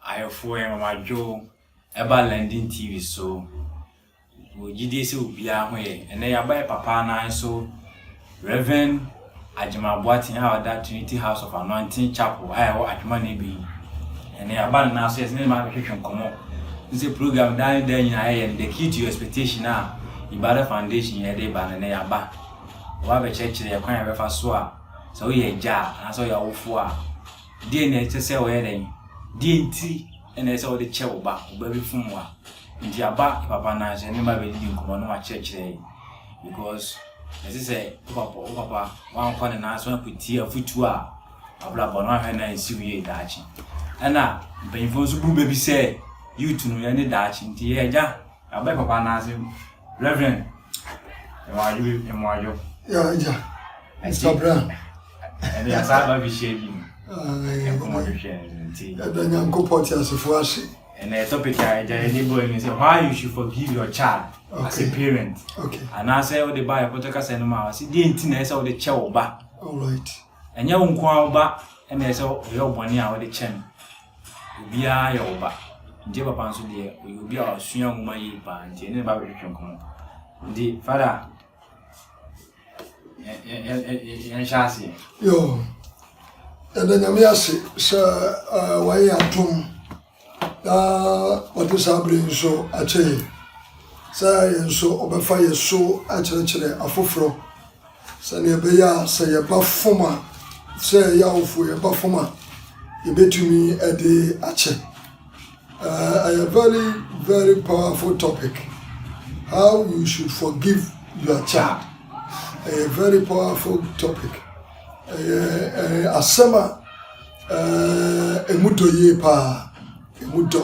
Ayɛfoɔ Mama Joe ɛba London TV so. Wɔ gyidie sɛ obiara ho yɛ. Ɛnɛ yɛaba yɛ papa nan so. Rev. Agyemang Boateng a ɔda Trinity House of Anointing Chapel a ɛwɔ Adwuma na Ebei no, ɛnnɛ yɛaba no nan ase a yɛsan mu abɛtwetwe nkɔmmɔ. Ɛne sɛ program daa ne daa nyinaa yɛyɛ no The Key to Your Expectation a Ibadah Foundation yɛde reba no, ɛnnɛ yɛaba. Wɔba abɛkyerɛkyerɛ yɛn kwan a yɛbɛfa so a sɛ woyɛ agya a anaasɛ woyɛ awofo a, deɛ na ɛsɛ sɛ wɔyɛ dɛn? Deɛ nti na ɛsɛ sɛ wɔde kyɛ wo ba, wo ba bi fom wo a. Nti aba papa nan so, ɛne mma bɛdidi nkɔmmɔ na wɔakyerɛkyerɛ yɛn. because ɛsɛ sɛ wo papa wo papa wankɔ ne nan so apiti afutuo a abrabɔ no ahwɛ na nsi wie daakye ɛna mpanyinfoɔ nso bu baabi sɛ youth no yɛ ne daakye nti yɛ agya yɛabɛ papa anaase reverend ɛmɔadwo ɛmɔadwo yɛ agya mr brown ɛde asaa ba bi hyɛ bi mu ɛkɔmɔdwohwɛ nti ɛda nyankopɔn te asefoɔ ase Ɛnɛ topic a ɛgya yɛn ani bɔ ɛni sɛ why you should forgive your child as a parent. Anaasɛ wode ba ɛkoto kasa no mu a wɔsi deɛ nti na ɛsɛ wode kyɛ wo ba. Ɛnyɛ wo nko ara wo ba ɛna ɛsɛ ɔyɛ ɔbɔne a wode kyɛ no. Obiara yɛ wo ba. Nti papa nso deɛ ɔyɛ obi a ɔsua nwoma yie paa nti ɛne ne ba bɛtwetwe nkɔmɔ. Nti fada yɛnhyɛ aseɛ yo yɛda nyame ase sɛ wayɛ atom na ɔde saa bere nso akyɛ yɛ sɛ yɛn nso ɔbɛfa yɛ so akyerɛkyerɛ afoforɔ sɛdeɛ ɛbɛyɛ a sɛ yɛba fam a sɛ yɛawofo yɛba fam a yɛbɛtumi de akyɛ Ɛyɛ very very powerful topic how you should forgive your child ɛyɛ very powerful topic ɛyɛ ɛyɛ asɛm a ɛɛ emu dɔ yie paa emu dɔ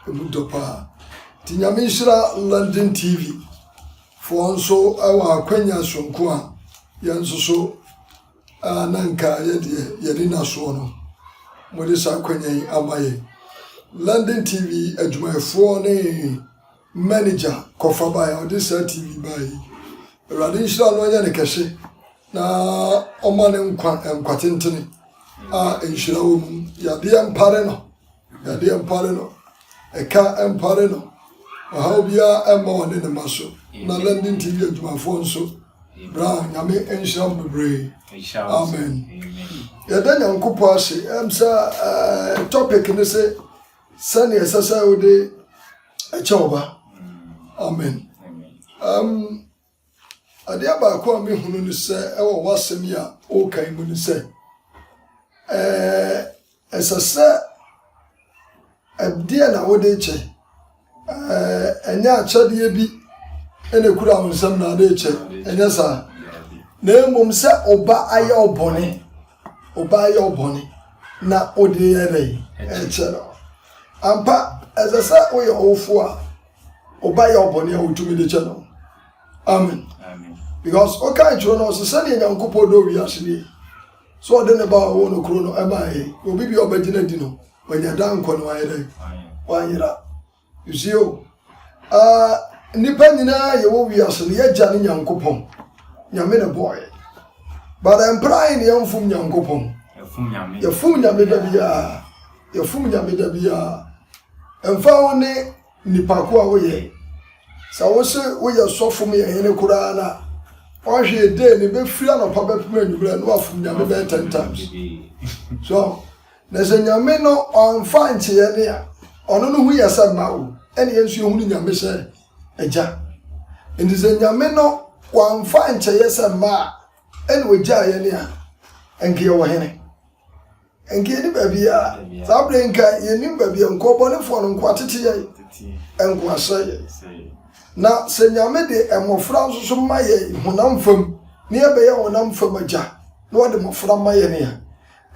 emu dɔ paa ti nyame nhyira london tv foɔ nso ɛwɔ akwanya sonko a yɛn nso so. A na anka yɛ deɛ yɛadi nnasoɔ no, mode saa akwanya yi ama yɛn. London TV adwumayɛfoɔ ne manager kɔfa baeɛ a ɔde saa TV baeɛ yi. Awurade nhyira no ɔnyɛ ne kɛse na ɔma ne nkwa nkwatentene a nhyira wɔ mu. Yadeɛ mpare no. Yadeɛ mpare no, ɛka mpare no, ɔhaw biara mma ɔne ne mma so, na London TV adwumafoɔ nso, Brown, Nyame nhyira mo bebree. Amen. Yɛda Nyankopɔn ase, ɛm sɛ eh, topic ne se sɛnea ɛsɛ sɛ wode ɛkyɛ ɔba. Amen. Um, Adeɛ baako a mehunu ne sɛ ɛwɔ w'asɛm yi a woka yi mu ne sɛ ɛsɛ sɛ ɛdeɛ na wode kyɛ ɛnyɛ akyɛdeɛ bi ɛna ekura wo nsam na ade kyɛ ɛnyɛ saa na mmom sɛ ɔba ayɛ ɔbɔne ɔba ayɛ ɔbɔne na ɔde yɛ dɛ ɛkyɛ no ampa ɛsɛ sɛ woyɛ ɔwofo a Oba yɛ ɔbɔne a otumi de kyɛ no. Amen. Because ɔka nkyerɛ no ɔsɛ sɛdeɛ Nyankopɔn dɔ wiase nie. So ɔde ne ba a ɔwɔ no koro no ɛma ɛyɛ. Obi bi a ɔbɛgyina di no, wanya daa nkwa no ayɛ dɛn? Wanyera. You see o. Uh, nnipa nyinaa yɛwɔ wiase no yɛgya ne Nyankopɔn. Nyame ne bɔɔyɛ. But ɛmpra ayɛ ne yɛmfom Nyankopɔn. Yɛfom Nyame da biara. Yɛfom Nyame da biara. Ɛmfa ho ne nipa ko a woyɛ. Sɛ wose woyɛ sɔfo mu yɛ hene koraa no a, ɔhwee dee no bɛfiri anɔpa bɛpem anwummerɛ no wafom Nyame bɛyɛ ten times. So, na sɛ Nyame no ɔmfa nkyeɛ ne a, ɔno no ho yɛ sɛ mma o, ɛne yɛn nso yɛhunu Nyame sɛ agya. Nti sɛ Nyame no wamfa nkyɛeɛ sɛ mma a, ɛne ɔgyaa yɛne a, ɛnke yɛwɔ hene. Nka yɛnni baabi a, saa berɛ nka yɛnnim baabi a nkɔbɔnefoɔ no nkoa tete yɛn, nkoa sɛ yɛn. Na sɛ Nyame de mmɔfra nso so ma yɛn honam fam, ne yɛbɛyɛ honam fam agya, na wɔde mmɔfra ma yɛn a,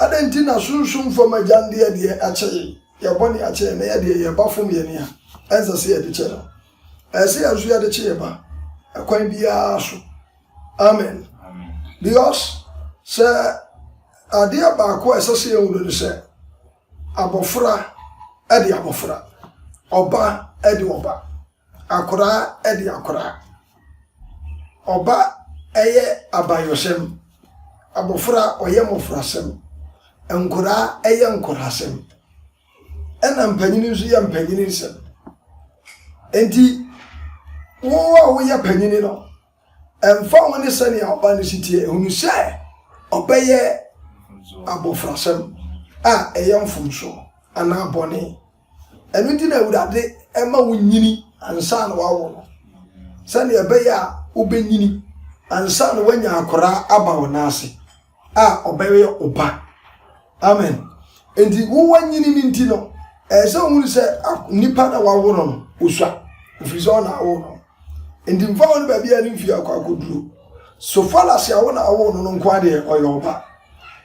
adɛn nti na sunsum fam agya no deɛ deɛ akyɛ yɛn, yɛn bɔne akyɛ yɛn, na yɛdeɛ yɛn ba fom yɛn a, ɛnsɛ sɛ yɛde kyɛ no. Ɛsɛ sɛ yɛn nso yɛde kye yɛn ba, ɛkwan biara so, Amen. Because sɛ adeɛ baako a ɛsɛ sɛ yɛhu no ne sɛ abɔfra de abɔfra, ɔba de ɔba, akoraa de akoraa. Ɔba yɛ abayɔsɛm, abɔfra ɔyɛ mmɔfrasɛm, nkoraa yɛ nkoraasɛm, ɛna mpanyin nso yɛ mpanyin nsɛm. Enti, wo a woyɛ panyin no, Ɛmfa ho ne sɛnea ɔba no si teɛ, hunu sɛ ɔbɛyɛ abofrasɛm a ɛyɛ mfomso anaa bɔne. Ɛno nti na Awurade ma wonyini ansa na wawo no, sɛnea ɛbɛyɛ a wobenyini ansa na woanya akwaraa aba wo nan ase. a ɔbɛyɛ wo ba amen nti wo wanyini no nti no ɛyɛ sɛ ohun sɛ nipa na wawo no no osua ofiri sɛ ɔna awo no nti nfa wɔn baabi a ne mfie akɔ akɔduro so falasi a wɔn na awo no no nko adeɛ ɔyɛ ɔba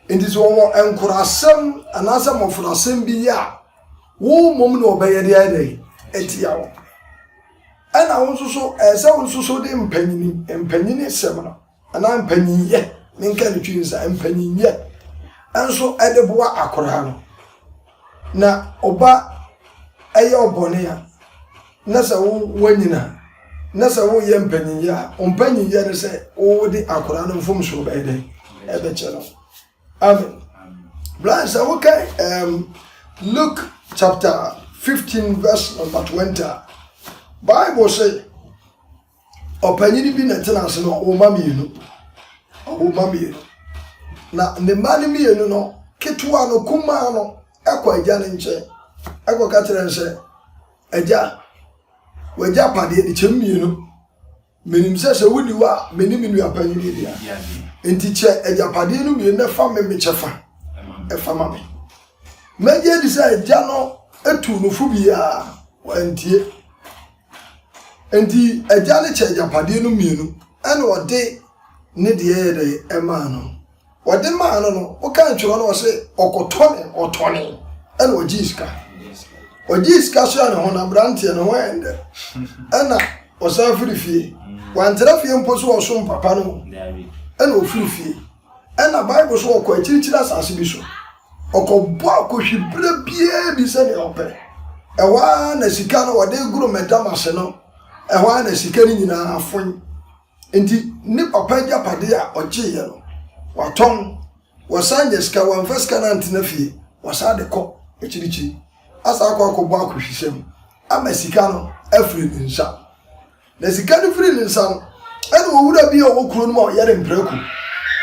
nti sɛ wɔwɔ nkorasɛm anaasɛ mmɔfrasɛm bi yɛ a wɔn mmom na ɔbɛyɛ deɛ ayɛ dɛ ɛtia wɔn ɛna wɔn nso so ɛyɛ sɛ wɔn nso so de mpanyin mpanyin sɛm no. Anaa mpanyinyɛ, menka no twi nsa, mpanyinyɛ nso de boa akoraa no. Na ɔba yɛ ɔbɔne a, na sɛ wo wanyina a, na sɛ woyɛ mpanyinyɛ a, wo mpanyinyɛ no sɛ wode akoraa no mfomsoɔ bɛyɛ dɛ ɛbɛkyɛ no. Amen. Brian, sɛ woka um, Luke chapter 15 verse number 20 a, Bible say, Ɔpanyin bi na ɛtena ase na ɔwɔ mma mmienu. Ɔwɔ mma mmienu. Na ne mma no mmienu no, ketewa no, kumaa no, ɛkɔ agya no nkyɛn. Ɛkɔ ka kyerɛ no sɛ, agya, wagya padeɛ no kyɛm mmienu. Menim sɛ sɛ wonni hɔ a, me ne me nua panyin yi dea. Nti kyɛ agyapadeɛ no mmienu na fa me me kyɛ fa. Ɛfa ma me. Mɛgye di sɛ agya no tu no fo biara. Wantie. Enti agya no kyɛ agyapadeɛ no mmienu ɛna ɔde ne deɛ yɛ dɛ ɛmaa no ɔde maa no no woka ntwerɛ no ɔsɛ ɔkɔtɔne ɔtɔne ɛna ɔgye sika ɔgye sika so a ne ho na aberanteɛ ne ho ɛndɛ ɛna ɔsan firi fie wantena fie mpo so ɔsom papa no ɛna ɔfiri fie ɛna bible so ɔkɔ akyirikyiri asase bi so Ɔkɔbɔ akohwi berɛ biara bi sɛdeɛ ɔpɛ. Ɛhɔ ara na sika no wɔde goro madam ase no, ɛhɔ ara na sika no nyinaa afon. Nti ne papa agyapade a ɔgyeeɛ no, watɔn. Wɔsan nya sika, wɔamfa sika no antena fie, wɔsan de kɔ akyirikyiri. Asan akɔ akɔbɔ akohwisɛm ama sika no afiri ne nsa. Na sika no firi ne nsa no, ɛna owura bi a ɔwɔ kuro no mu a ɔyɛ ne mprako.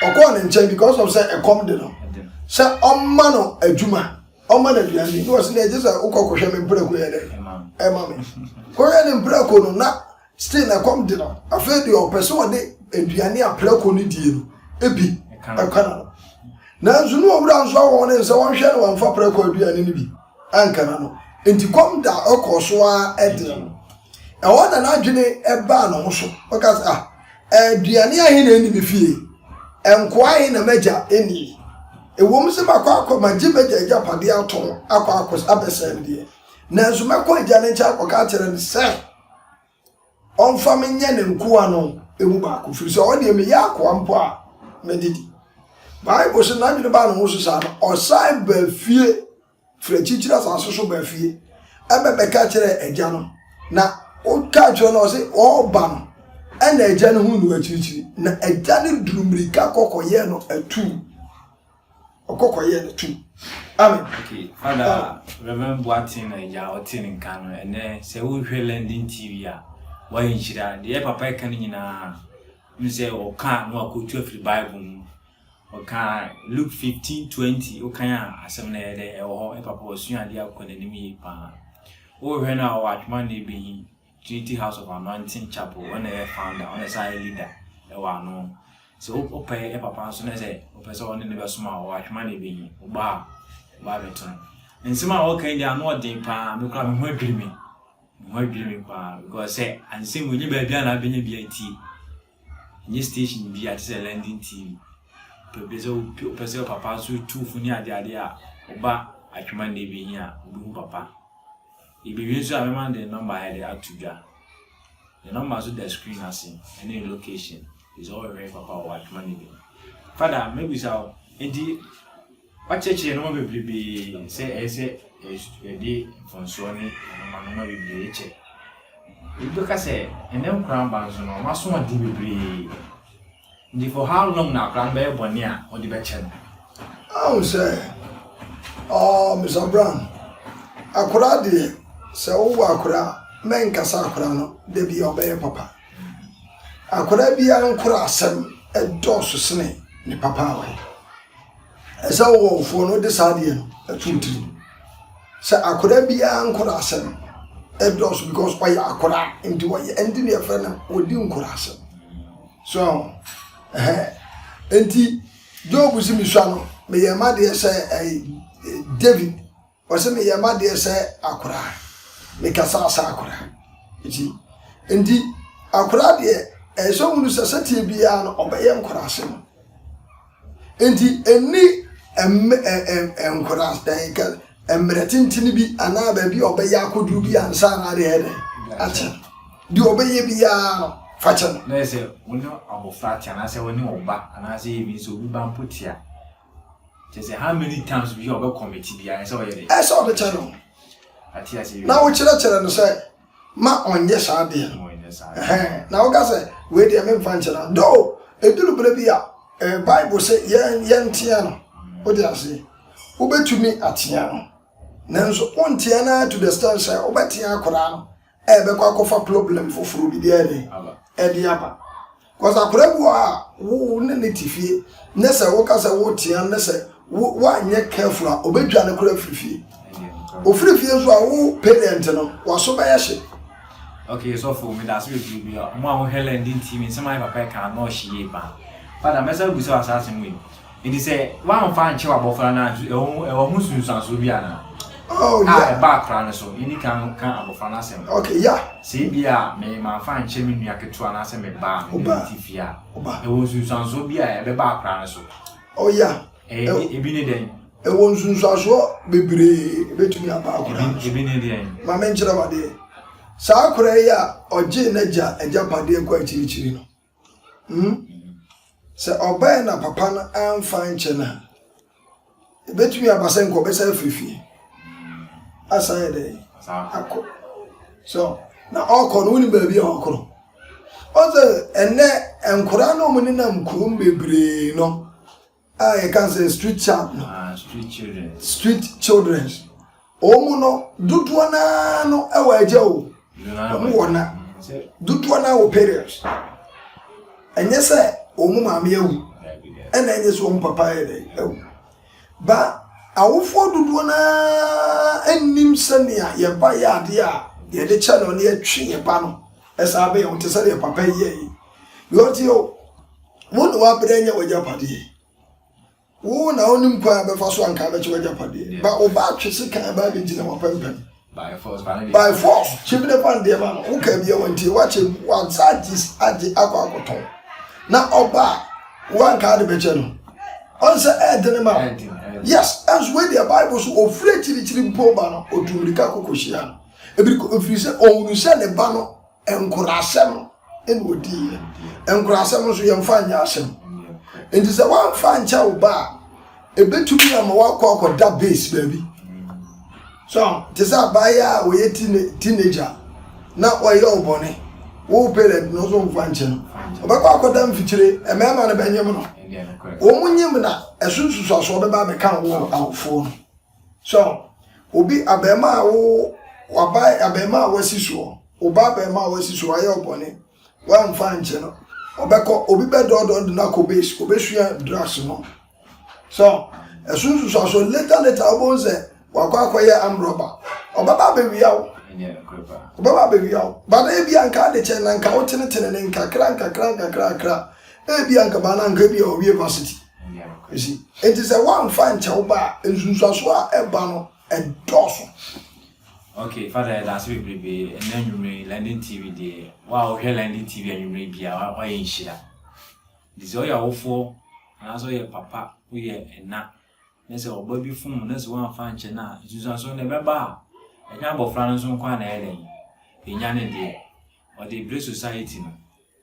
Ɔkɔɔ ne nkyɛn because of sɛ ɛkɔm de no sɛ ɔmma no adwuma ɔmma no aduane di na ɔsi na ɛgye sɛ wokɔ kɔhwɛ me mprako yɛ dɛ ɛma me kɔhwɛ ne mprako no na still na ɛkɔm de no afei deɛ ɔpɛ sɛ ɔde aduane a prako no die no ebi ɛka no nanso ne owura nso awɔ ne nsa wɔnhwɛ no wɔmfa prako aduane no bi. Ankara no nti kɔm da ɔkɔɔ so ara de no. Ɛhɔ na n'adwene baa ne ho so. Ɔka sɛ, ah, aduane ahe na ɛnni me fie? Nkoa ahe na m'agya nni? Ɛwom sɛ makɔ akɔ magye m'agya agyapadeɛ ato akɔ akɔ abɛsɛe no deɛ, nanso mɛkɔ agya no nkyɛn akɔka akyerɛ no sɛ, ɔmfa me nyɛ ne nkoa no mu baako, ɛfiri sɛ ɔno deɛ meyɛ akoa mpo a, mede di. Bible sɛ n'adwene baa ne ho so saa no, ɔsan baa fie firi akyirikyiri asase so baa fie ɛbɛbɛka kyerɛ agya no na woka kyerɛ no ɔse ɔreba no ɛna agya no ho nu akyirikyiri na agya no duru mmirika kɔkɔyɛ no atuu ɔkɔ kɔyɛ no tum amen. okay father ah. reverend boaten na agya ɔte ne nka no ɛnɛ sɛ wohwɛ london tv a wayɛ nhyira deɛ papa ɛka no nyinaa ne sɛ ɔka na wakɔtu afiri bible mu ɔka luke 15 20 wokan a asɛm no ɛyɛ dɛ ɛwɔ hɔ papa ɔsua adeɛ akɔ n'anim yie paa wohwɛ no a ɔwɔ atwoma na ɛbɛyi Trinity House of Anointing Chapel, ɔno na ɛyɛ founder, ɔno na ɛsan yɛ leader ɛwɔ ano. Sɛ wopɛ yɛ papa nso na sɛ wopɛ sɛ ɔne ne bɛsom a, ɔwɔ atwema na ɛbɛyi wo ba a, ba abɛto no. Nsɛm a ɔka yi deɛ ano ɔden paa, me koraa me ho adwiri me, me ho adwiri me paa because sɛ ansɛm wei nyɛ baabi a na abɛnya bi atie. Nye station bi a te sɛ London TV. Pɛ bi sɛ wopɛ sɛ papa nso tu fo ne ade ade a ɔba atwema na ebi hia a obehu papa. Ebewie nso a mɛma de nɔmba ayɛ de ato dwa. Ne nɔmba nso da screen ase ɛne ne location. Sɛ ɔhwehwɛ papa wɔ atwema na ebi. Fada mɛbisa wo enti. Wɔakyerɛkyerɛ nnoɔma bebrebe sɛ ɛyɛ sɛ yɛde mfomsoɔ ne anomanoma bebree kyɛ. Ebi bɛka sɛ ɛnɛ nkwadaa mma nso no wɔaso ade bebree. Nti for how long na akwadaa no bɛyɛ bɔne a wɔde bɛkyɛ no? Ahu sɛ ɔɔ Mr Brown akwadaa deɛ sɛ wowɔ akwadaa mɛnkasa akwadaa no da bi a ɔbɛyɛ papa. Akwadaa biara nkora asɛm ɛdɔɔso sene ne papa a ɔyɛ. Ɛsɛ ɔwɔfoɔ no de saa adeɛ no to ne tiri mu. Sɛ akwadaa biara nkwadaa asɛm ɛdɔɔso because ɔyɛ akwadaa nti wɔyɛ ɛnti na yɛfrɛ no wɔdi nkwadaa asɛm. So ɛhɛn nti Job si me sua no meyɛ ma deɛ sɛ ɛyɛ David. Ɔse meyɛ madeɛ sɛ akoraa me kasa sɛ akoraa nti nti akoraa deɛ ɛyɛ sɛ ɔhunu sɛ sɛteɛ biara no ɔbɛyɛ nkoraa sɛ no nti ɛni nkoraa mmerɛ tentene bi anaa baabi ɔbɛyɛ akɔduru bi ansa na adeɛ ɛdɛ akyɛ deɛ ɔbɛyɛ biara no fa kyɛ no na ɛsɛ wo ne abɔfra te anaasɛ wo ne ɔba anaasɛ yɛ bi nso obi ba mpo tea Kyerɛ sɛ how many times bi a ɔbɛ commit biara ɛsɛ ɔyɛ dɛ. Ɛsɛ ɔde kyɛ no. Ate ase yɛ. Na wokyerɛkyerɛ no sɛ ma ɔnyɛ saa deɛ no. Ɔnyɛ saa. Ɛhɛn na woka sɛ wei deɛ memfa nkyɛ no. Dɔw eduru bere bi a ɛɛ Bible sɛ yɛn yɛn teɛ no. Wote ase. Wobɛtumi ateɛ no. Nanso wonteɛ no ara to the stand sɛ wobɛteɛ akoraa no ɛbɛkɔ akɔfa problem foforɔ bi deɛ ne ɛde aba because akwadaa bi wɔ a wo ne ne te fie ne sɛ woka sɛ wotea ne sɛ woanyɛ careful a ɔbɛdwa ne kora firi fie ɔfiri fie nso a wo parent no waso bɛyɛ hye Okay, so for me, that's what you be. Mo a mo Helen didn't see me. Some my papa can no she ye pa. Father, mesa busa asase mo yi. Enti sɛ woamfa ankyɛ w'abɔfra no a, ɛwɔ ho ɛwɔ ho nsunsuansoɔ bi anaa? Oh, a yeah. ɛba akora no so yɛdi kan no ka abɔfra no asɛm okay yeah sɛ ebi a me manfa nkyɛ me nua ketewa no asɛ me ba a mede ne ti fie a ɛwɔ nsunsuansoɔ bi a ɛbɛba akora no so oh yeah ɛyɛ ebi ne dɛn ɛwɔ nsunsuansoɔ bebree ebetumi aba akora no so ebi ne dɛn maame nkyerɛ wadeɛ saa akora yi a ɔgye n'agya agya padeɛ kɔ akyirikyiri no Hmm? Sɛ ɔbɛɛ na papa no amfa nkyɛ no a, ɛbɛtumi aba sɛ nka ɔbɛsan afiri fie. Asan yɛ dɛn? Akɔ. So, na ɔkɔ no wonim baabi a ɔkɔ no. Ɔsɛ ɛnɛ nkora no ɔmo nenam kurom bebree no. a yɛka sɛ street child no ah, street children street children wɔn mu no dodoɔ naa no wɔ agya o wɔn wɔ na dodoɔ naa wɔ parents ɛnyɛ sɛ wɔn mu maame awu ɛna ɛnyɛ sɛ wɔn papa yɛ dɛ awu ba awofoɔ dodoɔ naa nnim sɛnea yɛn ba yɛ adeɛ a yɛde kyɛ no ne yɛtwe yɛn ba no ɛsan bɛyɛ wɔn te sɛ deɛ papa yɛ yi. Deɛ ɔteɛ o, wo ne w'abrɛ nyɛ w'agyapadeɛ. Wo na wonim kwan a bɛfa so anka bɛkyɛ w'agyapadeɛ. Ba wo ba atwe se kan ba abɛgyina w'apɛmpɛm. By force, By force, kyimine pa ndeɛ ma no. Wo ka bia wantie, wakyɛ mu, wansa agye agye akɔ akɔtɔn. Na ɔba a, wanka ade bɛkyɛ no. Ɔnsɛ ɛɛdene ma wo. Yes, ɛnso wei deɛ Bible so ɔfiri akyirikyiri mpo ba no, ɔtu mmirika kɔkɔhyia no. Ɛfiri sɛ ɔhunu sɛ ne ba no Nkurasɛm na ɔdiiɛ. Nkurasɛm nso yɛmfa nyɛ asɛm. Nti sɛ woamfa ankyɛ wo ba a, ɛbɛtumi ama woakɔ akɔda base baabi. So te sɛ abaayɛ a ɔyɛ teenager na ɔyɛ ɔbɔne. Wo parent no nso mfa nkyɛ no. Ɔbɛkɔ akɔda mfikyire, mmarima no bɛnyem no. Wɔn nyem na ɛso nsusuasoɔ bɛba abɛka wo awofoɔ no. So obi abarimaa a wo waba abarimaa a wasi soɔ wo ba abarimaa a wasi soɔ ayɛ ɔbɔne wamfa nkyɛ no ɔbɛkɔ obi bɛdɔɔdɔɔ no de no akɔ base ɔbɛsua drugs no so ɛso nsusuaso later later wobɛhu sɛ wakɔ akɔyɛ amrɔba ɔbɛba abɛwia wo ɔbɛba abɛwia wo bana ebi anka ade kyɛ na nka wotenetene ne nkakra nkakra nkakra nkakra ebi anka bana anka ebi a ɔwie varsity Esi, enti sɛ woamfa ankyɛ wo ba a, nsunsuanso a ɛba no, ɛdɔɔso. Okay, Father, yɛda ase bebrebe. Ɛnna anwummere yi, London TV deɛ, wo a wohwɛ London TV anwummere bia, woayɛ nhyira. Nti sɛ woyɛ awofoɔ, anaasɛ woyɛ papa, woyɛ ɛna, na sɛ ɔba bi fom na sɛ woamfa ankyɛ no a, nsunsuanso no ɛbɛba a, ɛnyɛ abɔfra no nso nko a na ɛyɛ dɛn? Ɛnya ne deɛ. Ɔde bere society no.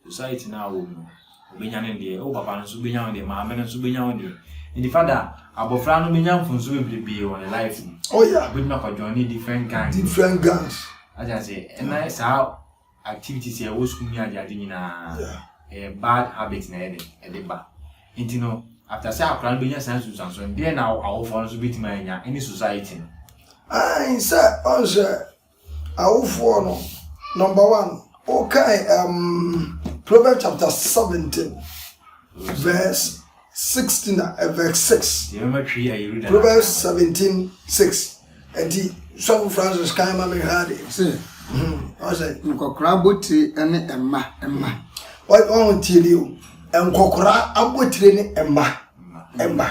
Society no a ɔwɔ mu no, ɔbɛnya ne deɛ. Wo papa no nso wobɛnya wo deɛ, maame no nso wobɛnya wo deɛ. Nti fada, abɔfra no bɛnya mfomsoɔ bebrebee wɔ ne life mu. Oh yeah. Wobɛtumi akɔ join ne different gangs. Different gangs. Ate ase, ɛna saa activities a ɛwɔ school ne ade ade nyinaa, ɛyɛ bad habit na ɛde ɛde ba. Nti no, after sɛ akora no bɛnya saa nsunsuansoɔ no, deɛ na awofoɔ no nso bɛtumi anya ɛne society no. Ayi sɛ ɔnhyɛ Awofoɔ no, number one, wokae ɛɛm Proverbs chapter seventeen verse sixteen a ɛ verse six. Proverbs seventeen six. Ɛnti sɔfo Francis kan ma mi hwɛ ade. Se. Hmm. Ɔsɛ. Nkɔkora abotire ɛne ɛma ɛma. Ɔn tie ni o. Nkɔkora abotire ne ɛma ɛma.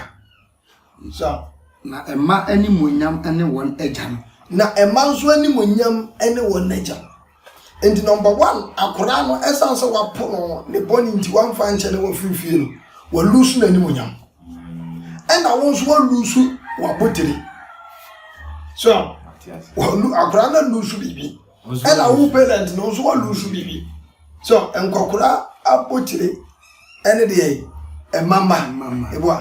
Nso a. Na mma animuonyam ne wɔn agya no. Na mma nso animuonyam ne wɔn agya no. Enti number one, akwadaa no ɛsan sɛ wapo no ne bɔne nti wamfa ankyɛ na wafiri fie no, walusu n'animuonyam. Ɛna wo nso walusu w'abotire. So, akwadaa no alusu biribi. Ɛna wo parent no nso wa lose biribi. So nkɔkora abotire ɛne deɛ yi ɛma mma eboa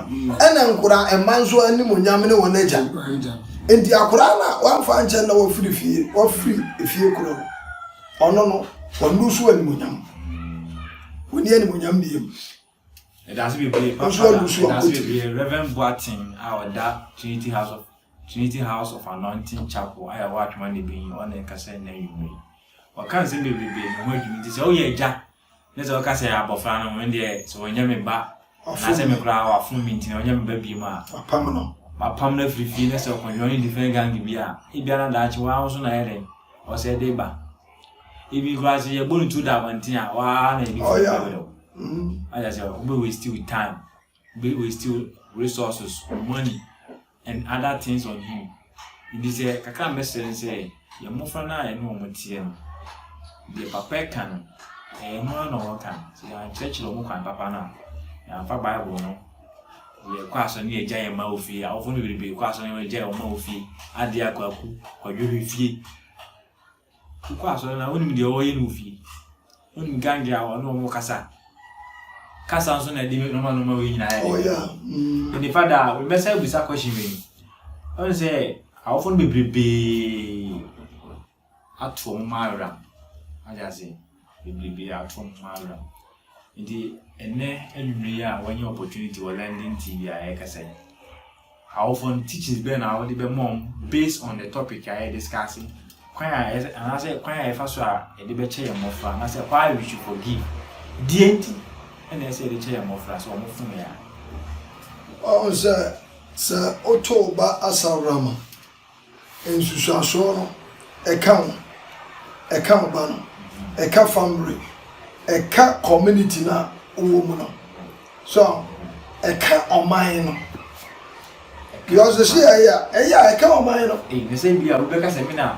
ɛna nkora ɛma nso anim onyam ne wɔn agya nti akora na wamfa nkyɛn na wafiri fie wafiri efie koro no ɔno no wɔn lose anim onyam wɔn ni anim onyam bie mu. Ɛdaase bebree papa da ɛdaase bebree Reverend Boateng a ɔda Trinity House of Trinity House of Anointing Chapel a ɛwɔ Atwoma ne Benyi ɔna ɛkasa ɛna anwummerɛ yi ɔka nsɛm bebrebe ne ho adwuma nti sɛ woyɛ agya ne sɛ ɔka sɛ abɔfra no wɔn deɛ sɛ wɔnyɛ me ba anaasɛ me koraa wafom me nti na wɔnyɛ me ba bie mu a wapam no wapam no afiri fie ne sɛ ɔkɔdwɔn ne different gang bi a ebiara daakye wɔn ahosuo na ɛyɛ dɛn ɔsɛ de ba Ebi koraa sɛ yɛbɔ ne tu da abɔnten a waa na ebi firi bɛbɛ dɔ. Ayɛ sɛ wobɛ waste your time, wobɛ waste your resources, money and other things on him. Nti sɛ kakra mbɛsrɛ ne sɛ yɛ mmɔfra no a yɛne wɔn teɛ no, deɛ papa ɛka no, ɛyɛ no ara na wɔka no. Sɛ yɛankyerɛkyerɛ wɔn kwan papa no a, yɛamfa Bible no yɛkɔ asɔre ne yɛgya yɛn mma wɔ fie. Awofo no bebrebe kɔ asɔre ne yɛgya wɔn mma wɔ fie. Adeɛ akwaku, kwadwohwe fie. Wokɔ asɔre no a, wonim deɛ wɔyɛ no wɔ fie. Wonim gange a wɔne wɔn kasa. Kasa nso na ɛde nɔma nɔma wei nyinaa yɛ. Ɔyɛ. Oh, Nipa da a, mɛsa abusa question wei. Ɔne sɛ, awofo no bebrebee ato wɔn mma awera. Ade ase. bebrebe ato ho awera. Nti ɛnnɛ anwummere yi a wanya opportunity wɔ London TV a yɛkasa yi, awofo no teachings bɛn na wode bɛma wɔn based on the topic a yɛ discuss kwan a anaasɛ kwan a yɛfa so a yɛde bɛkyɛ yɛn mmɔfra anaasɛ why we should forgive deɛ nti ɛna ɛsɛ yɛde kyɛ yɛn mmɔfra sɛ wɔn fom yɛ a. ɔn sɛ sɛ woto ba asaworama Nsusuasoɔ no, ɛka wo, ɛka wo ba no, ɛka family, ɛka community no a wowɔ mu no. So ɛka ɔman no. Because ɛsi yɛ ɛyɛ a, ɛyɛ a ɛka ɔman no. Ee, ne sɛ bi a wobɛka sɛ me na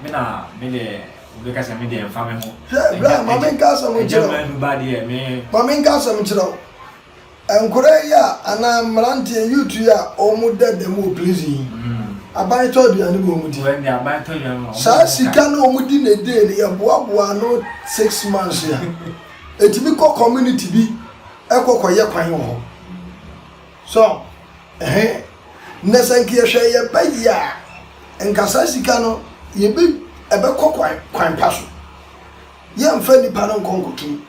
me na me de wobɛka sɛ me deɛ mfa me ho. Hwɛ, bra ma menka asɛm nkyerɛ wo. Ɛgya manu ba deɛ me. Ma menka asɛm nkyerɛ wo. Nkoraa yi a anaa mmeranteɛ youth yi a ɔmo da dɛm wɔ prison yi aban tɔ aduane ma ɔmo di saa sika no ɔmo di ne dee no yɛboaboa ano six months a ɛtumi kɔ community bi ɛkɔ kɔ yɛ kwan wɔ hɔ so ɛhɛn na sɛ nka yɛhwɛ yɛ ba yi a nka saa sika no yɛbɛ ɛbɛkɔ kwan kwan pa so yɛmfa nipa no nkɔ nkɔtum.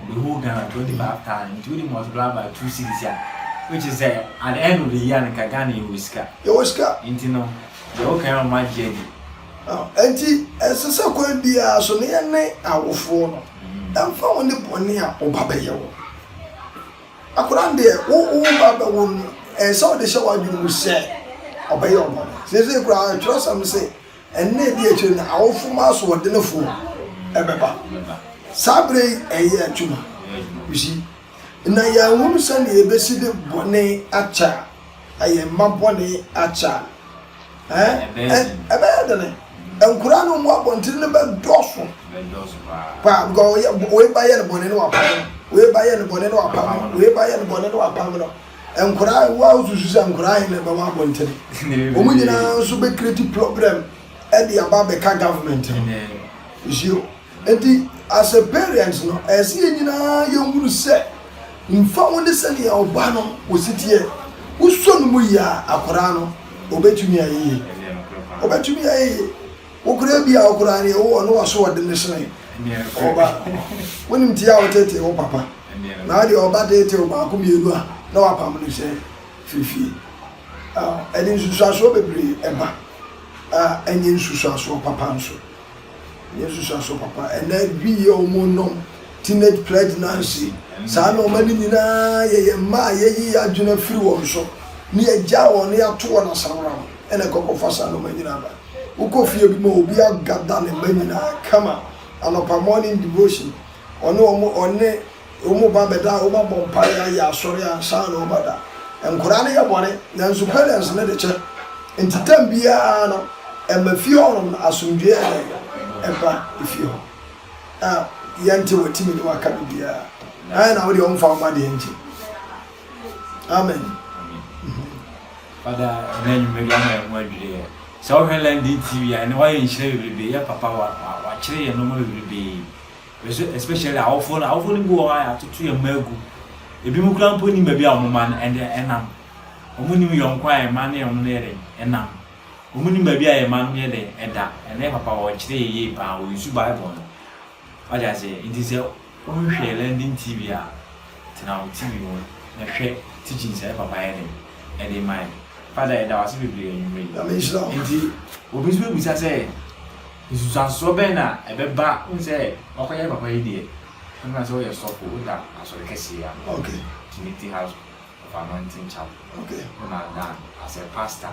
Ɔ bɛ hold Ghana twenty five thousand nti wo de multiply by two cedis a which is sɛ at the end of the year no nka Ghana yɛ wɔ sika. Yɛ wɔ sika. Nti no deɛ wo kan no ɔmo agye adi. Now nti ɛsɛ sɛ kwan biara so no yɛ ne awofoɔ no ɛnfa ho ne bɔne a wo ba bɛ yɛ wo. Akwadaa no deɛ wo wo ba bɛ wo no ɛsɛ sɛ wo de hyɛ w'adwene mu sɛ ɔbɛ yɛ wo bɔne. Seesei koraa twerɛsɛm se Nna a edi akyiri no, awofo mu asoɔdenfo bɛba. Saa bere yi ɛyɛ adwuma. You see? Na yɛanhunu sɛnea yebesi de bɔne akyɛ a, na yɛn mma bɔne akyɛ a, ɛɛ, ɛ, ɛbɛyɛ dene. Nkwadaa no mu abɔnten no bɛdɔɔso paa, because wɔyɛ, wɔyɛ ba yɛ no bɔne na wɔapam no, wɔyɛ ba yɛ no bɔne na wɔapam no, wɔyɛ ba yɛ no bɔne na wɔapam no. Nkwadaa a wɔn a wosusu sɛ nkwadaa he na ɛbɛwɔ abɔnten. Wɔn nyinaa nso bɛ create problem ɛde aba abɛka government no. Nsuo. Eti as a parent no, ɛsɛ yɛn nyinaa yɛn hunu sɛ nfa ho ne sɛnea ɔba no wɔsi teɛ. Wosɔ no mu yie a, akwadaa no ɔbɛtumi ayɛ yie. Ɔbɛtumi ayɛ yie. Wo koraa bi a wo koraa deɛ wo ɔno wasoɔdene sene ɔba no. Wonim tee a wotetee wo papa na wo deɛ ɔba tetee wo baako mmienu a na wapam no sɛ firi fie. Ɛde nsusuasoɔ bebree ba a ɛnyɛ nsusuasoɔ papa nso. Ɛnyɛ nsusuasoɔ papa. Ɛnɛ bi yɛ wɔn nom teenage pregnancy saa nneɛma no nyinaa yɛ yɛn mma a yɛyi yɛn adwene afiri wɔn so ne yɛgya wɔn ne yɛato wɔn asamram ɛna ɛkɔkɔfa saa nneɛma nyinaa ba. Wokɔ fie bi mu a obi agada ne mma nyinaa kama anɔpa morning devotion ɔne wɔn ɔne wɔn ba bɛda a wɔn abɔ mpaeɛ ayɛ asɔre ansa na wɔn ada. Nkwadaa no yɛ bɔne nanso parents no de kyɛ nti tam biara no ɛma fie hɔnom no asomdwoeɛ yɛ dɛn ɛba efie hɔ a yɛnte wɔatimi ne wɔaka biribiara na na wodeɛ wɔmfa wo ba deɛ nkyɛ. amen fada ɛna nwuma bi ama ɛho adwiri yɛ sɛ wohwɛ london tv a ɛne wayɛ nhyira bebrebe yɛ papa wakyerɛ yɛ nɔma bebrebe bɛso especially awofo no awofo no bi wɔ hɔ a yɛatoto yɛ mma agu ebi mu kura mpo nim baabi a wɔn ma no ɛnde ɛnam wɔn nim yɔnko a ɛma ne wɔn no yɛ dɛ ɛnam wɔn nim baabi a yɛ ma no yɛ dɛ ɛda ɛnɛ papa wɔkyerɛ yɛ yie paa wɔn su bible no Wate aseɛ? Nti sɛ wonhwɛ London TV a, tena wo TV ho na hwɛ teachings a Papa ayɛ dɛn? Ɛde ma yɛn. Father, yɛda wo ase bebree anwummerɛ yi. Nyame nhyira wo. Nti obi nso bɛbisa sɛ, Nsunsuansoɔ bɛn na ɛbɛba? Wohu sɛ wakɔyɛ Papa yi deɛ, ɛmfa sɛ woyɛ sɔfo, woda asɔre kɛseɛ yi ano, Okay. Trinity House of Anointing Chapel, Okay. wona dan as a pastor.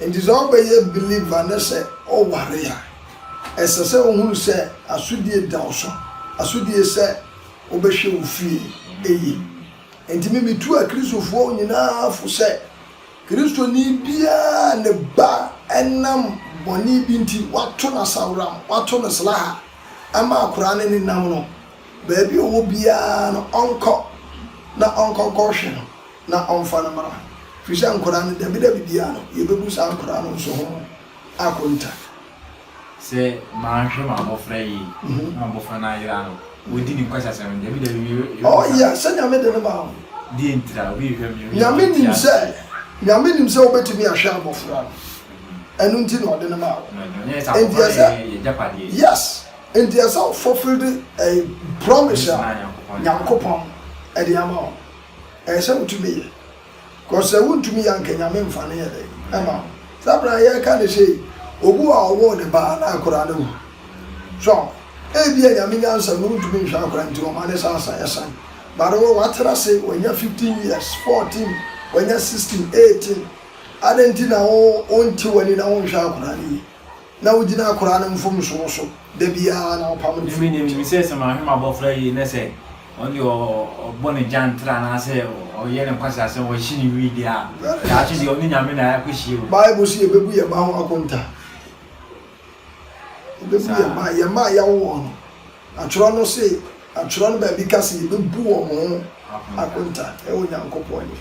Enti sɛ wobɛyɛ believer na sɛ ɔware a, ɛsɛ sɛ wohunu sɛ asodie da wo so, asodie sɛ wobɛhwɛ wo fie yie. Enti me metu akristofoɔ nyinaa fo sɛ, Kristoni biara a ne ba nam bɔne bi nti wɔato no asaworam, wɔato no slaha ama akwadaa no nenam no, baabi a ɔwɔ biara no ɔnkɔ na ɔnkɔ nkɔhwe no. na ɔmfa no mmra, ɛfiri sɛ nkwadaa no, dabidabi biara no, yɛbɛbu saa nkwadaa no nso ho akonta. Sɛ manhwɛ m'abɔfra yie na m'abɔfra no ayera no, ɔdi ne nkwasiasɛm no, dabidabi me, yɛbɛbu saa. Oh yeah, sɛ Nyame de no maa wo. Deɛ ntira, obi rehwɛ me, obi rehwɛ Nyame nim sɛ, Nyame nim sɛ wobɛtumi ahwɛ abɔfra no, ɛno nti na ɔde no maa wo. Ɛnyɛ sɛ abɔfra no yɛ yɛgyapadeɛ. Yes, nti ɛsɛ wo fulfil ɛɛ promise a Nyankopɔn ɛde ama wo. Ɛyɛ sɛ wotumi yɛ cause sɛ wontumi yɛ anka Nyame mfa no yɛ dɛn ɛma wo. Saa berɛ a yɛreka no sei yi, obi wɔ hɔ a ɔwoo ne ba na akwadaa no awu. So aho? Ebia Nyame nyansa mu wontumi nhwɛ akwadaa nti ɔma ne sa asa ɛsan. But wo watena ase, wanya 15 years, 14, wanya 16, 18, adɛn nti na wo wonte w'ani na wonhwɛ akwadaa no yie? Na wogyina akoraa no mfomso so da biara na wɔpam no fi wɔn nkyɛn. Emi na minim sɛ sɛ mahwɛ m'abɔfra yie na sɛ ɔno deɛ ɔbɔ ne gyantra anaasɛ ɔyɛ ne nkwaseasɛm wahye ne wii deɛ a, daakye deɛ ɔne Nyame na akɔhyia o. Bible se yɛbɛbu yɛn mma ho akonta. Yɛbɛbu yɛn mma, yɛn mma a yɛawo wɔn no. Atwerɛ no se, Atwerɛ no baabi ka se yɛbɛbu wɔn ho akonta wɔ Nyankopɔn anim.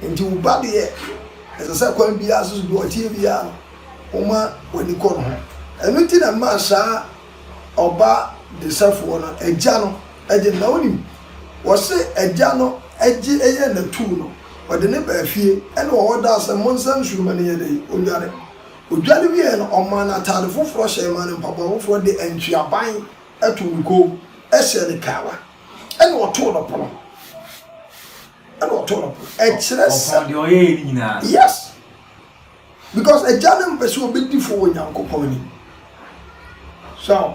Enti wo ba deɛ, ɛsɛ sɛ kwan biara so, deɛ ɔteɛ biara no, woma w'ani kɔ ne ho. Ɛno nti na ɛmaa saa ɔba desafoɔ no, agya no, gye no. Na wonim, wɔse agya no gye yɛn na tuu no, ɔde no baa fie, ɛna ɔhɔ daa sɛ, Monsa nsuoma no nyɛ dɛn? Ɔdware. Odwa no wieeɛ no, ɔmaa no ataade foforɔ hyɛɛ, maa no mpaboa foforɔ de antweaban too ne kɔn mu hyɛɛ no kawa, ɛnna ɔtoo no pono. Ɛnna ɔtoo no pono. Ɛkyerɛ sɛ. Ɔpɔn deɛ ɔyɛeɛ no nyinaa. Yes. Because agya no mpɛ sɛ ɔbɛdi fo wɔ Nyankopɔn anim. So,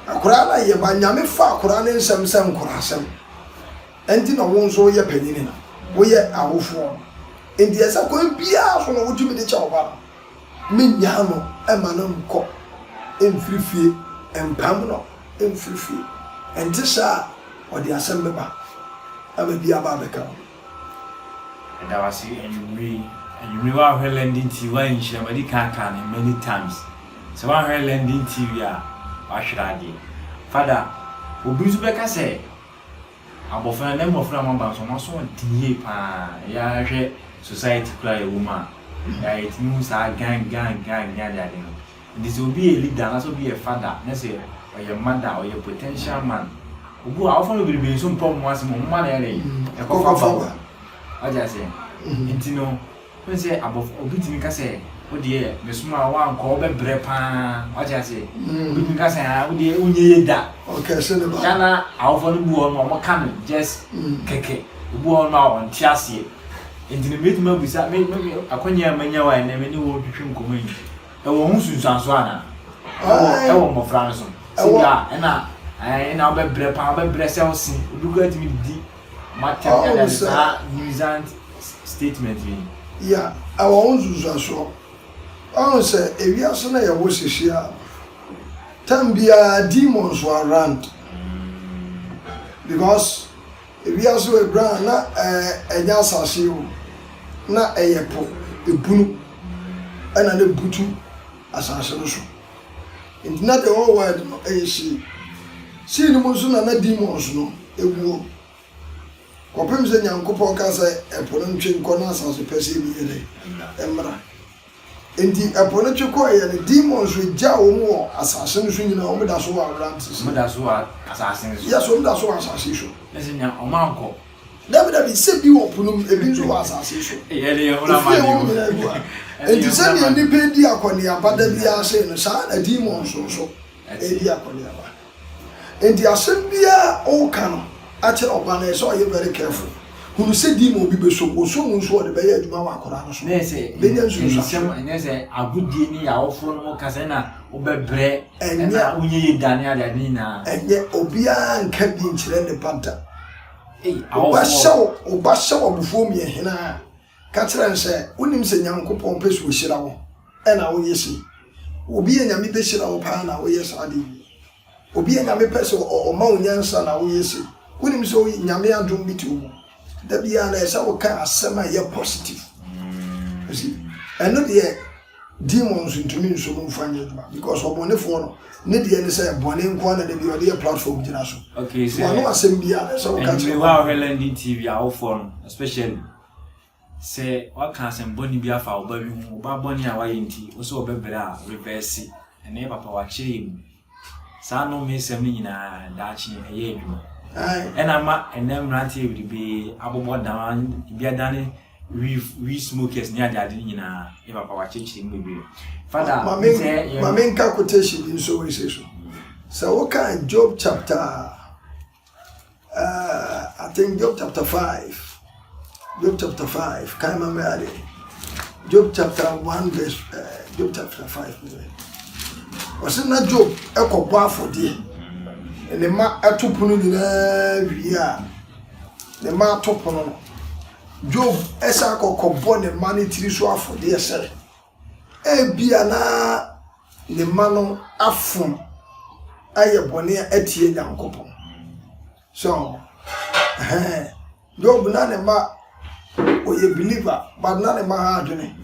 akwadaa no a yɛba, Nyame fa akwadaa no nsɛm sɛ nkorasɛm. Enti na wo nso woyɛ panyin na woyɛ awofoɔ no, enti ɛsɛ sɛ kwan biara so na wotumi de kyɛ wo ba no. Mennyaa no mma no nnkɔ mmfiri fie, mmpam no mmfiri fie. Ɛnte saa a, ɔde asɛm bɛba na mɛbi aba abɛka wo ho. Meda wo ase anwummere yi. Anwummere woanhwɛ London TV woanhyira mu. Madi kan aka no many times sɛ woanhwɛ London TV a, woahwere adeɛ. Father, obi nso bɛka sɛ Abɔfra ndɛ mbɔfra a wɔaba no so wɔn aso ɔden yie paa yɛ ara hwɛ society koraa a yɛwɔ mu a ɛyɛ a yɛtumi hu saa gang gang gang ne ade ade no nti sɛ obi yɛ leader anaasɛ obi yɛ father ne sɛ ɔyɛ mother ɔyɛ potential man obu a awofo no bebrebe nso mpɛ wɔn asɛm wɔn mma na ɛde ɛkɔ fa ba wɔn wagye aseɛ nti no. Wohu sɛ abɔfra, obi tumi ka sɛ, Wo deɛ, mesomaa wo a, anka wobɛbrɛ pa ara. Wate aseɛ? Obi tumi ka sɛ, Ah, wo deɛ, wonyɛ yie da. Ɔkɛse ne ba. Ghana awofoɔ no bi wɔ hɔ nom a, wɔka no just kɛkɛ. Obi wɔ hɔ nom a, ɔnte aseɛ. Enti no, mɛtumi abisa, me, me, me, akwannya a manya wo a ɛnnɛ me ne wo retwetwe nkɔmmɔ yi, ɛwɔ ho nsunsuansoɔ anaa? Ɛwɔ, ɛwɔ mmɔfra no so. Sɛ bi a, ɛna, ɛɛ, ɛna wobɛbrɛ pa ara, wobɛbrɛ sɛ wo se. Obi koraa tumi di. Ɔhunu sɛ. Ya, ɛwɔ ho nsunsuansoɔ. Ɔhunu sɛ ewiase no a yɛwɔ sisi a, time biara demons wɔ around. Because ewiase wɔ eberɛ a na ɛnyɛ asase yi o, na ɛyɛ po, ebunu ɛna na ebutu asase no so. Nti na the whole world no yɛ hyee. Hyee no mu nso na na demons no wuo. Kɔpem sɛ Nyankopɔn kaa sɛ ɛpo no ntwe nkɔ na asase pɛsee no yɛ dɛn? Mmra. Nti ɛpo no twe kɔɔ yɛ no, demons no gyaa wɔn wɔ asase no so nyinaa, wɔn da so wɔ Abrante so. Wɔn da so wɔ asase no so. Yes, wɔn da so wɔ asase so. Ɛsɛ nya wɔn ankɔ. Dabidabi, nsɛm bi wɔ po no mu, ebi nso wɔ asase so. Efi a ɛwom nyinaa gu ha. Enti sɛnea nnipa redi akɔneaba da biara sei no, saa ara na demons nso redi akɔneaba. Enti asɛm biara a woreka no akyerɛ ɔba no, ɛsɛ sɛ ɔyɛ very careful. Hunu sɛ demon bi bɛsɔ mu. Ɔsɔ mu nso a, ɔde bɛyɛ adwuma wɔ akwadaa no so. Bɛnya nsunsuansoɔ. Ɛnyɛ sɛ agodie ne awofo no mo kasa na wobɛbrɛ na wonyɛ yɛ dane adeade nyinaa. Ɛnyɛ. Obiara nka bi nkyerɛ ne ba da. Wo ba hyɛ wo abufuo mu yɛ hena a, ka kyerɛ no sɛ, Wonim sɛ Nyankopɔn pɛ sɛ ɔhyira wo, ɛna woyɛ sei. Obi a Nyame bɛhyira no paa na woyɛ saa adeɛ yi. Obi a Nyame pɛ sɛ ɔma wo nyansa na woyɛ sei. Wonim sɛ Nyame adom bi te wo mu. Da biara no ɛsɛ sɛ woka asɛm a ɛyɛ positive. Ɛno deɛ Demon nso ntumi nso mu nfa nyɛ adwuma because ɔbɔnefoɔ no ne deɛ ne sɛ bɔne nko na dabi ɔde yɛ platform gyina so. Okay sɛ wɔn asɛm bi a na sɛ wɔka kyerɛ. Ɛnumere hɔ a wɔhwɛ London TV awofoɔ no especially sɛ wɔka asɛm bɔne bi afa ɔba bi ho ɔba bɔne a wɔayɛ nti wɔsɛ wɔbɛbrɛ a reverse ɛnna ɛyɛ papa wɔakyerɛ yɛ mu. Saa nnommesɛm no nyinaa, daakye ɛyɛ adwuma. Ɛna ama ɛnɛ mmeranteɛ bebree abobɔ dan, ebi adane weed, weed smokers ne adeade no nyinaa. Yɛ papa wakyekyere mu bebree. Fada, Ma me- sɛ yɛ- ma menka quotation bi nso wei sei so sɛ woka job chapter Ah, I think Job chapter 5. Job chapter 5. Can't remember that day. Job chapter 1 verse uh, Job chapter 5. Ɔsɛ na Job ɛkɔ bɔ afɔdeɛ. Ne ma ɛto pono nyinaa wie a ne ma ato pono no. Job ɛsɛ akɔkɔ bɔ ne ma ne tiri so afɔdeɛ sɛ. Ebia na ne mma no afom ayɛ bɔne atia Nyankopɔn. So, ɛhɛn, Job na ne mma ɔyɛ believer, but na ne mma ha adwene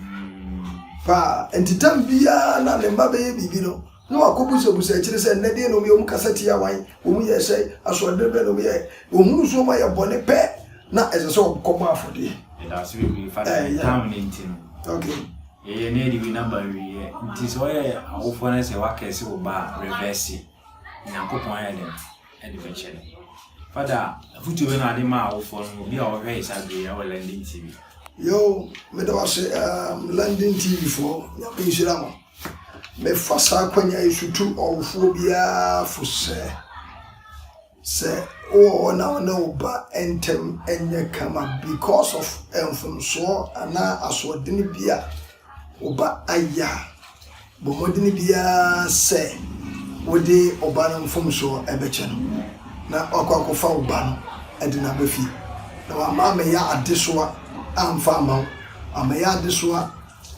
paa. Nti tam biara na ne mma bɛyɛ biribi no, Na wɔakɔbusabusɛ akyire sɛ, Nnɛ deɛn na wɔyɛɛ? Wɔkasa tiaa hwan? Wɔyɛɛ sɛn? Asoɔdene bɛn na wɔyɛɛ? Wɔhunuu sɛ wɔayɛ bɔne pɛ, na ɛsɛ sɛ wɔkɔbɔ afɔdeɛ. Yɛda ase bebree fa deɛ yɛtaa wo no nti no. Okay. Yɛyɛ na yɛde wei na ba awieɛ. Nti sɛ woyɛ awofoɔ na sɛ woakɛse wo ba a, revɛse. Nyankopɔn ayɛ dɛn? Ɛde bɛkyɛ no. Fada, afutuo bɛ na ade ma awofoɔ no obi a ɔhwɛ yɛsa bere yi wɔ London TV? Yoo, meda wo ase um, London TV foɔ, Nyame nhyira mo. Mefa saa akwannya yi so tu ɔwofoɔ biara fo sɛ, sɛ wowɔ hɔ na wo ne wo ba ntam nyɛ kama because of mfomsoɔ anaa asoɔdene bi a wo ba ayɛ a, bɔ mmɔden biara sɛ wode wo ba no mfomsoɔ bɛkyɛ no na wakɔ akɔfa wo ba no de no aba fie. Na wama amɛyɛ adesoa amfa ama wo, amɛyɛ adesoa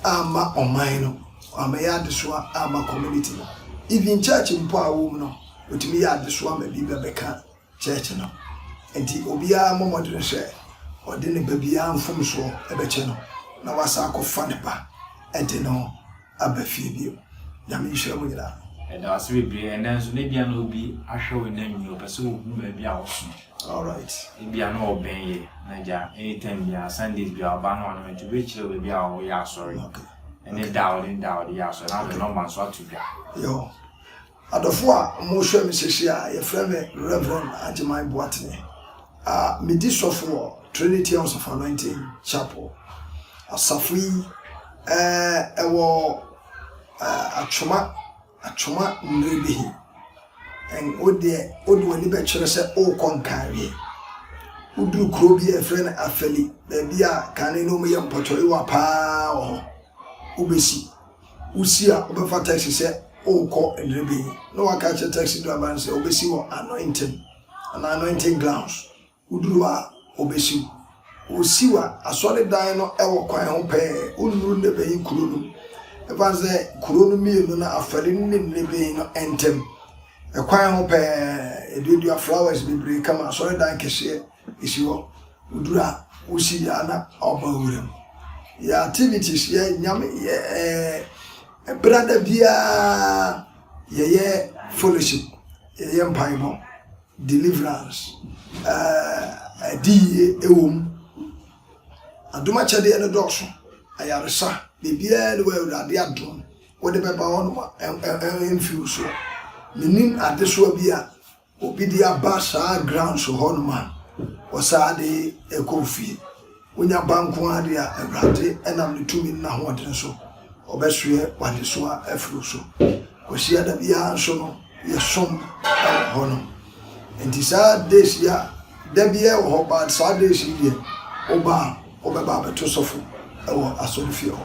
Amma ɔman no, ɔammɛyɛ adesoa amma community no. Even church mpo a ɔwɔ mu no, otumi yɛ adesoa ma bi bɛbɛka church no. Ntsi obiara mbɔ mbɔdzen sɛ ɔdze ne ba biara mfomsoɔ bɛkyɛ no na ɔasan akɔfa ne ba dze no aba fie bio. Nyame nhyira mo nyina. Yɛda wo ase bebree. Ɛnnɛ nso, na ebia na obi ahwɛ wo na nnyi hɔ. Ɔpɛ sɛ ohu baabi a wosom. Alright ebia na ɔbɛn yɛ na gya anytime biara Sundays biara ɔba na ɔne me to bɛ kyerɛ baabi a ɔyɛ asɔre ɛne da a ɔne ne da a ɔde yɛ asɔre na ɔde nɔmba nso ato dwa. Yo adɔfo a ɔmo hwɛ me sisi a yɛfrɛ me Rev. Agyeman Boatene a me di sɔfo wɔ Trinity House of Anointing Chapel asafo yi ɛɛ ɛwɔ ɛɛ Atwoma. Atwoma mmere bi he, ɛn wo deɛ wode w'ani bɛkyerɛ sɛ worekɔ Nkaawie. Woduru kuro bi a yɛfrɛ no Afali, baabi a kane no wɔyɛ mpɔtɔyewa paa wɔ hɔ. Wobɛsi. Wosi a, wobɛfa taxi sɛ worekɔ Nrebenyi. Na woaka akyerɛ taxi driver no sɛ ɔbɛsi wɔ Anointing anaa Anointing Grounds. Woduru hɔ a, wobesiw. Wosiw a, asɔredan no wɔ kwan ho pɛɛ, wonnuru Nebein kurow no mu, esiane sɛ nkurow no mmienu no afɛre no nni Nebein no ntam. Ɛkwan ho pɛɛ, eduadua flowers bebree ka ma asɔredan kɛseɛ si hɔ. Woduru a, wosi yɛ ara na wɔba wuram. Yɛ activities, yɛ nyame, yɛ ɛɛ brada biara, yɛyɛ fellowship, yɛyɛ mpaebɔ. Deliverance, ɛɛ, adi yie wɔ mu. Adom akyɛdeɛ no dɔɔso, ayaresa, biribiara ne wɔ Awurade adom wode bɛba hɔ nom a mfi wo soɔ. Menim adesoa bi a obi de aba saa grounds hɔ nom a ɔsaa de kɔ fie. Wonya ba nko ara de a, Awurade nam ne tumi ne n'ahoɔden so ɔbɛsoɛ w'adesoa afiri wo so. Kwasiada biara nso no, yɛsom wɔ hɔ nom. Nti saa days yi a, da biara wɔ hɔ but saa days yi deɛ, woba a, wobɛba abɛto sɔfo wɔ asɔrefie hɔ.